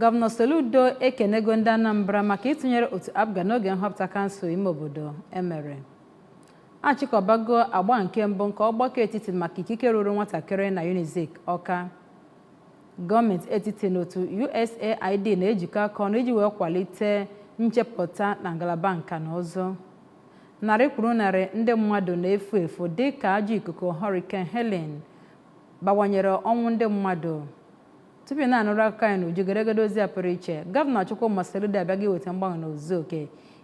Gọvanọ Soludo ekenego ndị Anambra maka ịtụnyere otu APGA n'oge nhọpụta kansụl ime obodo emere. A chịkọbago agba nke mbụ nke ọgbakọ etiti maka ikike ruuru nwatakịrị na UNIZIK Ọka. Gọọmenti etiti na otu USAID na-ejikọ aka ọnụ iji wee kwalite nchepụta na ngalaba nka na ụzụ. Narị kwuru narị ndị mmadụ na-efu efu dị ka ajọ ikuku Hurricane Helene bawanyere ọnwụ ndị mmadụ. tupu ị na-anụrụ akụkọ anyị n'uju geregede ozi a pụrụ iche gọvanọ Chukwuma Soludo abịago iweta mgbanwe n'ozuzu oke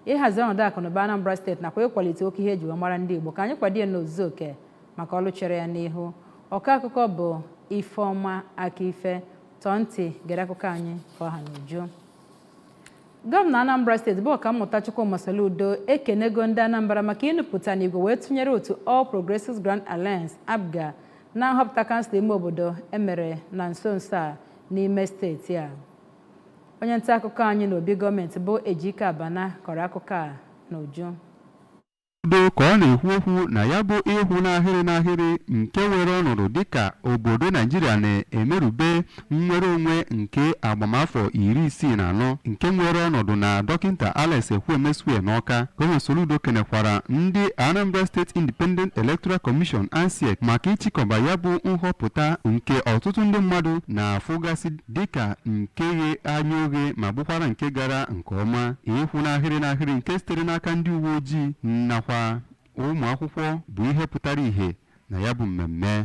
ịhazi ọnọdụ akụnụba Anambra steeti nakwa ịkwalite oke ihe eji wee mara ndị Igbo ka anyị kwado ya n'ozuzu oke maka ọrụ chere ya n'ihu ọkọ akụkọ bụ Ifeọma Akife tọọ ntị gere akụkọ anyị ka ọ ha n'uju gọvanọ anambra steeti bụ ọkammụta chukwuma soludo ekenego ndị anambra maka inupụta n'igwe wee tụnyere otu all progressives grand alliance APGA na nhọpụta kansụl ime obodo emere na nso nso a n'ime steeti a onye nta akụkọ anyị n'obi gọọmenti bụ Ejike Abana kọrọ akụkọ a n'uju. Soludo ka ọ na-ekwu okwu na ya bụ ịkwụ n'ahịrị n'ahịrị nke nwere ọnọdụ dịka obodo Naijiria na-emerube nnwere onwe nke agbamafọ iri isii na anọ nke nwere ọnọdụ na dọkịnta Alex Ekwueme Square n'Ọka. Gọvanọ Soludo kenekwara ndị Anambra State Independent Electoral Commission ANSIEC maka ịchịkọba ya bụ nhọpụta nke ọtụtụ ndị mmadụ na-afụgasị dịka nke ghe anya oghe ma bụkwara nke gara nke ọma ịkwụ n'ahịrị n'ahịrị nke sitere n'aka ndị uwe ojii nakwa ụmụ akwụkwọ bụ ihe pụtara ìhè na ya bụ mmemme